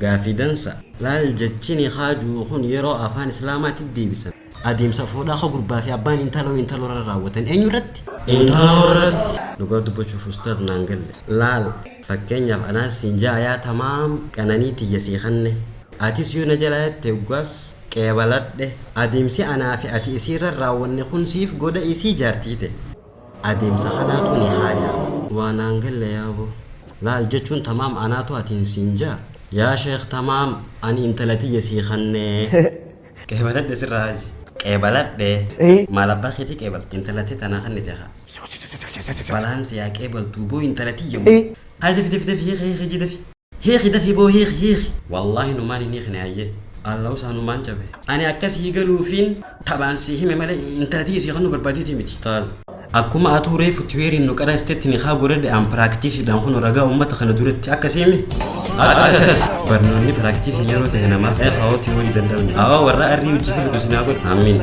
Gaafii dansa. Laal jechini haa ju'u kun yeroo afaan islaamaati deebisan adeemsa fuudhaa ka gurbaa fi abbaan intaloo intaloo irra raawwatan eenyu irratti? Intaloo irratti. Dhugaa dubbachuuf ustaaz naan galle. Laal fakkeenyaaf anaas siin ja'a yaa tamaam qananii tiyya sii kanne atis yoo na jalaa jette hoggaas qeebaladhe adeemsi anaa fi ati isii irra raawwanne kun siif godha isii jaartii te. Adeemsa kanaatu ni haaja. Waa naan galle yaa boo. Laal jechuun tamaam anaatu atiin siin jaa. Yaa sheekh tamaam ani intala tiyya sii kannee. Qeebaladhe sirra haaji. Qeebaladhe. Maal abbaa keetii qeebalta intala tee tanaa kannite kaa. Balaan si haa qeebaltuu boo intala tiyya boo. Haayi dafi dafi dafi hiiki hiiki hijii dafi. Hiiki dafi boo hiiki hiiki. Wallahi numaan hin hiikne hayyee. Allahu saa numaan cabe. Ani akka sii galuufiin taphaan sii hime malee intala tiyya sii kennuu barbaadeetii miti. Ustaaz. Akkuma atuu reefu tiweeriin nu qarastetti nikaa goredhe an piraaktiisiidhaan kun ragaa uummata kana duratti akkasiimi. Akkas. Barnoonni piraaktiisiin yeroo ta'e namaaf ta'e hawaa tiwoorii danda'u. Hawaa warra arrii hojii fidu sinaa godhu. Amiin.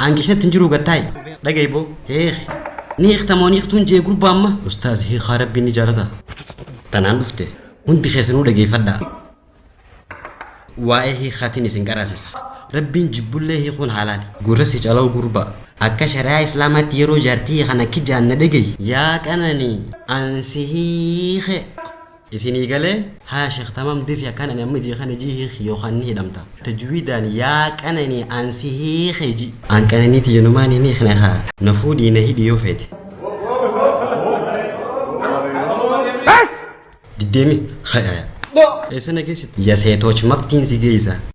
Aan keessatti hin jiru gattaayi. Dhagahi boo. Heekhi. Ni hiikta moo ni hiiktuun jee gurbaa amma. Ustaaz hiikaa rabbiin ni jaalata. Tanaan dhufte. Hundi keessanuu dhageeffadhaa. Waa'ee hiikaatiin isin qaraasisa. Rabbiin jibbullee hiikuun haalaali. Gurra si calawu gurbaa. Akka shari'aa islaamaatti yeroo jaartii kana kijaan na dhagahi. Yaa qananii. Ansi hiike. Isinii galee? Haya shekh tamam defi akkan ani amma ijii kana ijii hiiki yokan ni hidhamta. Tajwiidaan yaa qanani an si hiike iji. An qananii tiyya numaan hin hiikne kaa. Na fuudhii na hidhi yoo feete. Diddee mi? Eessa na geessite? Ya seetooch mabtiin si geessa.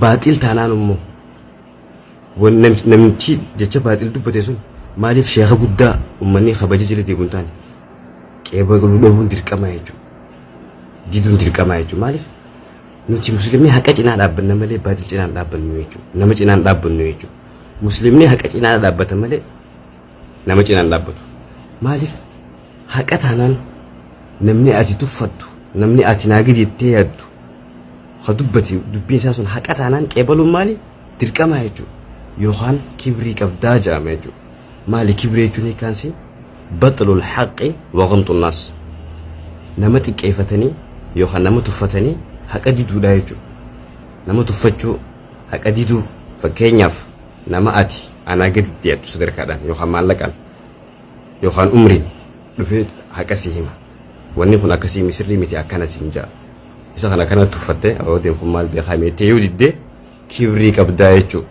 Baaxil taanaan immoo wan- nam- namtichi jecha baaxil dubbate sun maaliif sheeka guddaa ummanni kabaja jala deemu hin taane qeebaluu dhabuun dirqama jechuudha. Diduun dirqama jechuudha. Maaliif nuti musliimni haqa cinaa dhaabbanna malee baaxil cinaa hin dhaabbannu jechuudha. Nama cinaa hin dhaabbannu jechuudha. Musliimni haqa cinaa dhaabbata malee nama cinaa hin dhaabbatu. Maaliif Haqa taanaan namni ati tuffattu, namni ati naa gadi jettee yaaddu ha dubbate dubbiin isaa sun haqa taanaan qeebaluun maali? Dirqamaa jechuudha. Yookaan kibrii qabdaa jedhama jechuudha. Maali kibrii jechuun hiikkaansi? Baxlul haqqi wa ghamxun naas. Nama xiqqeeffatanii yookaan nama tuffatanii haqa diduudha jechuudha. Nama tuffachuu haqa diduu fakkeenyaaf nama ati anaa gaditti yaaddu sadarkaadhaan yookaan maallaqaan yookaan umriin dhufee haqa si hima wanni kun akkasii misirrii miti akkana siin ja'a isa kana kana tuffattee ababoodeen kun maal beekaa meettee yoo diddee kibrii qabdaa jechuu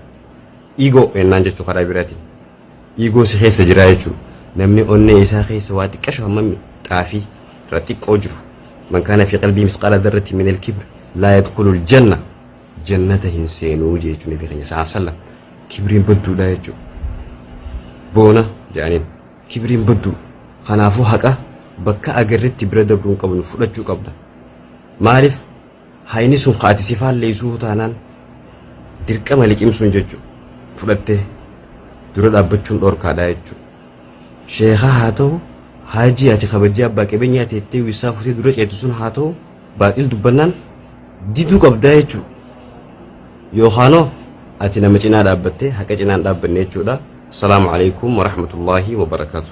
igoo ennaan jechuu karaa biraatiin igoo si keessa jiraa jechuu namni onnee isaa keessa waa xiqqashu hammam xaafii irra xiqqoo jiru man kaana fi qalbii misqaala darratti min alkibr laa yadkhulu aljanna jannata hin seenuu jee jechuun nabii keenya sa'a sallam kibriin badduudha jechuu boona jedhaniin kibriin badduu kanaafuu haqa bakka agarretti bira dabruu hin qabnu fudhachuu qabda maaliif hayni sun kaati si faalleessuu taanaan dirqama liqimsuun jechuu fudhattee dura dhaabbachuun dhorkaadha jechuu sheekaa haa ta'u haajii ati kabajjii abbaa qabeenyaa teettee wissaa futee dura ceetu sun haa ta'u Baaqil dubbannaan diduu qabdaa jechuudha. Yookaanoo ati nama cinaa dhaabbattee haqa cinaan dhaabbanne jechuudha. Assalaamu alaikum warahmatullaahi wabarakaatu.